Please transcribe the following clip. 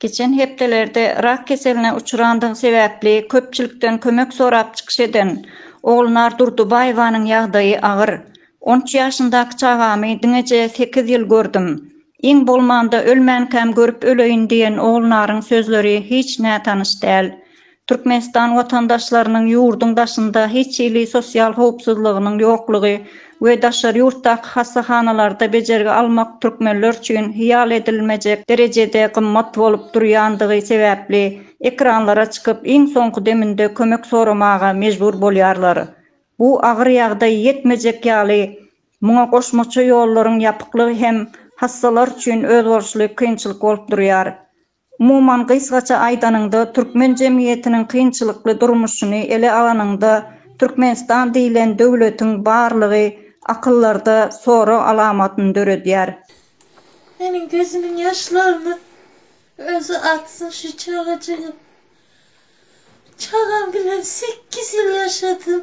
Geçen hepdelerde rak keseline uçrandygy sebäpli köpçülikden kömek sorap çykyş eden Ogulnar Durdybaýewanyň ýagdaýy agyr. On üç ýaşyndaky çagamy diňeje sekiz ýyl gördüm. Iň bolmanda ölmänkäm görüp öleýin diýen Ogulnaryň sözleri hiç nätanyş däl. Türkmenistan watandaşlarynyň ýurduň daşynda hiç hili sosial howpsuzlygynyň ýoklugy we daşary ýurtdaky hassahanalarda bejergi almak türkmenler üçin hyýal edilmejek derejede gymmat bolup durýandygy sebäpli ekranlara çykyp iň soňky deminde kömek soramaga mejbur bolýarlar. Bu agyr ýagdaý ýetmejek ýaly muňa goşmaça ýollaryň ýapyklygy hem hassalar üçin özboluşly kynçylyk bolup durýar. Umuman gysgaça aýdanyňda türkmen jemgyýetiniň kynçylykly durmuşyny ele alanyňda Türkmenistan diýlen döwletiň barlygy akyllarda sorag alamatyny döredýär. Meniň gözümiň ýaşlaryny özi atsyn şu çagajygym. Çagam bilen sekiz ýyl ýaşadym.